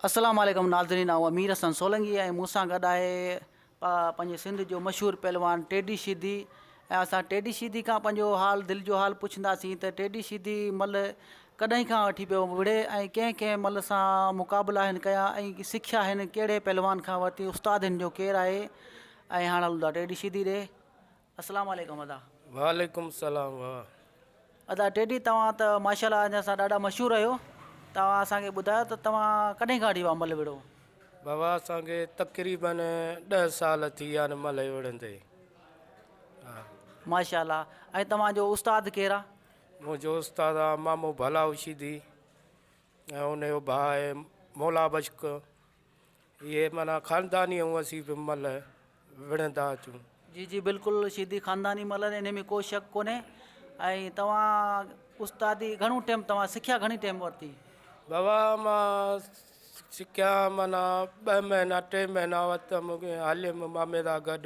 السلام عليڪم ناظرين آئون امير حسن سولنگي ۽ مون سان گڏ آهي پنهنجي سنڌ جو مشهور پهلوان ٽيڊي شيدي ۽ اسان ٽيڊي شيدي کان پنهنجو حال دل جو حال پڇنداسين ته ٽيڊي شيدي مل ڪڏهن کان وٺي پيو وڙهي ۽ ڪنهن ڪنهن ملهه سان مقابلا هن ڪيا ۽ سکيا هن ڪهڙي پهلوان کان ورتي استاد هن جو ڪير آهي ۽ هاڻ هلون ٿا ٽيڊي شيدي ڏي اسلام عليڪم ادا. وعليڪم سلام واه. ادا ٽيڊي توهان ته ماشاءالله اڃا سان ڏاڍا مشهور آهيو توهان اسان کي ٻڌايو ته توهان ڪڏهن کان وٺي پيا ملهه وڙهو. بابا اسان کي تقريبن ڏهه سال ٿي ويا آهن ملهه وڙهندي. ماشاءالله ۽ توهان جو استاد ڪير آ. منهنجو استاد آ مامو ڀلا هوشيدي ۽ ان جو ڀاء آهي مولا بشڪ اهي معنيٰ خانداني ۽ اسين به ملهه وڙهندا اچون. جي جي بلڪل شيدي خانداني ملهه آهن انهي ۾ ڪو شڪ ڪونهي ۽ توهان استادي گهڻو ٽيم توهان سکيا گهڻي ٽيم ورتي. بابا مان سکيا معنيٰ ٻه مهينا ٽي مهينا ورتم هليم مامي سان گڏ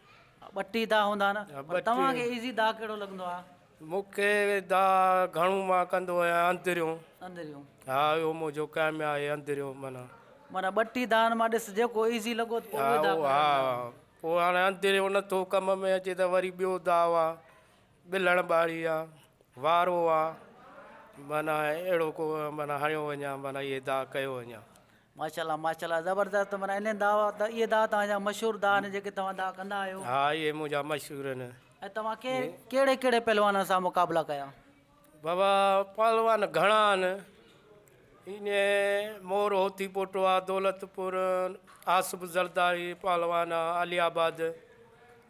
ٻٽي داء هوندا آهن پر توهان کي ايزي داء ڪهڙو لڳندو آهي؟ مون کي داء گهڻو مان ڪندو آهيان اندريون. اندريون. ها اهو منهنجو ڪيم آهي اندريون معنيٰ. معنيٰ ٻٽي دائن مان ڏس جيڪو ايزي لڳو ته پوء اهي داء ڪريو. ها ها پوء هاڻي اندريون نه ٿو ڪم ۾ اچي ته وري ٻيو داء آهي ٻلهڻ ٻاڙي آهي وارو آهي معنيٰ اهڙو ڪو معنيٰ هڻيو وڃان معنيٰ اهي داء ڪيو وڃان. ماشاءالله ماشاءالله زبردست معنيٰ انهن دعا اهي دعا توهان جا مشهور دعا آهن جيڪي توهان دعا ڪندا آهيو. ها اهي منهنجا مشهور آهن. ۽ توهان ڪي ڪهڙي ڪهڙي پهلوانن سان مقابلا ڪيا. بابا پهلوان گهڻا آهن ايئن مور هوتي پوٽوا دولت پور آصف زرداري پهلوان آهي علي آباد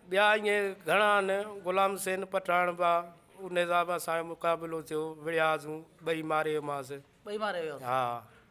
ٻيا ايئن گهڻا آهن غلام حسين پٺاڻ با ان حساب اسان جو مقابلو ٿيو وڙهياسون ٻئي ماري ويماس. ٻئي ماري ويا. ها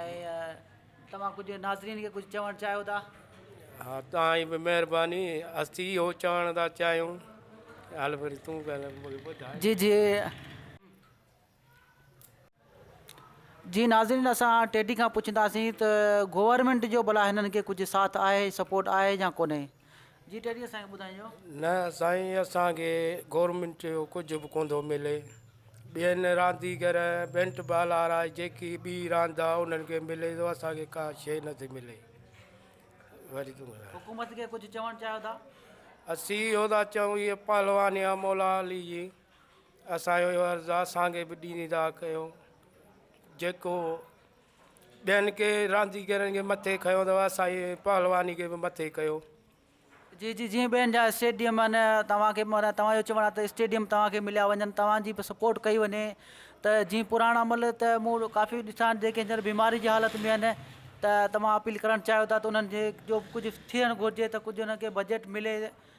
۽ توهان ڪجهه ناظرين کي ڪجهه چوڻ چاهيو ٿا؟ ها توهان جي به مهرباني اسي اهو چوڻ ٿا چاهيون هل وري تون ڳالهه مون کي ٻڌاء. جي جي جي ناظرين اسان ٽيڊي کان پڇنداسين ته گورنمينٽ جو ڀلا هنن کي ڪجهه ساٿ آهي سپورٽ آهي يا ڪونهي. جي ٽيڊي اسان کي ٻڌائين جو. نه سائين اسان کي گورنمينٽ جو ڪجهه به ڪونٿو ملي ٻين رانديگر بينٽ بال وارا جيڪي ٻي راند آ انهن کي ملي ٿو اسان کي ڪا شي نٿي ملي وعليڪم السلام. حڪومت کي ڪجهه چوڻ چاهيو ٿا؟ اسين اهو ٿا چئون هي پهلوان يا مولا علي جي اسان جو عرض آ اسان کي به ڏيندا ڪيو جيڪو ٻين ڪي رانديگرن کي مٿي کنيو اٿو اسانجي پهلواني کي به مٿي ڪيو. جي جي جيئن ٻين جا اسٽيڊيم آهن توهان کي معنيٰ توهان جو چوڻ آهي ته اسٽيڊيم توهان کي مليا وڃن توهان جي به سپورٽ ڪئي وڃي ته جيئن پراڻا عمل ته مون ڪافي ڏسا آهن جيڪي هينئر بيماري جي حالت ۾ آهن ته توهان اپيل ڪرڻ چاهيو ٿا ته انهن جي جو ڪجهه ٿيڻ گهرجي ته ڪجهه انهن کي بجيٽ ملي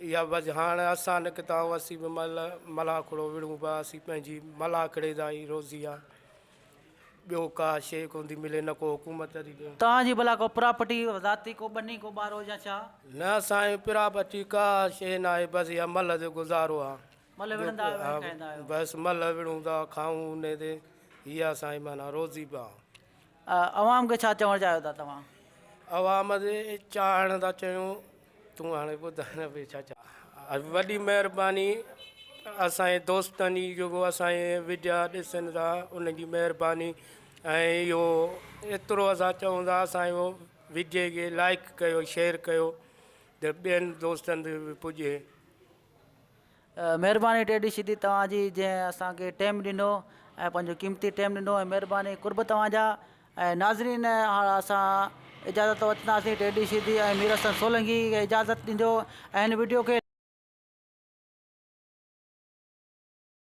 اها وجهه هاڻ اسان نڪتا هئاسين به مئل، ملاکڙو وڙهون به هئاسين پنهنجي ملاکڙي جا ئي روزي آ. ٻيو ڪا شيء ڪوندي ملي نه ڪو حڪومت ڏي ڏيڻ. توهان جي ڀلا ڪو پراپرٽي ذاتي ڪو ٻني ڪو ٻارو يا ڇا؟ نه سائين پراپرٽي ڪا شيء ناهي بس اها مئل جو گذارو آ. مئل وڙهندا آهيو ۽ کائيندا آهيو. بس مئل وڙهون ٿا کائون انهي تي اها سائين معنيٰ روزي به آ. عوام کي ڇا چوڻ چاهيو ٿا توهان؟ عوام جي چاهڻ ٿا چيون تون هاڻي ٻڌاء نه ڀي ڇا چوڻ. وڏي مهرباني اسان جي دوستن جي جيڪو اسان جي وڊيا ڏسن ٿا انهن جي مهرباني ۽ اهو ايترو اسان چئون ٿا اسان جي وڊيي کي لائڪ ڪيو شيئر ڪيو ته ٻين دوستن تي به پڄي. مھرباني ڊيڊي شھيدي توھان جي جنھن اسان کي ٽيم ڏنو ۽ پنھنجو قيمتي ٽيم ڏنو ۽ مھرباني قرب توھان جا ۽ ناظرين ھاڻ اسان اجازت وٺنداسين ڊيڊي شھيدي ۽ مير حسن سولنگي کي اجازت ڏيندو ۽ ھن وڊيو کي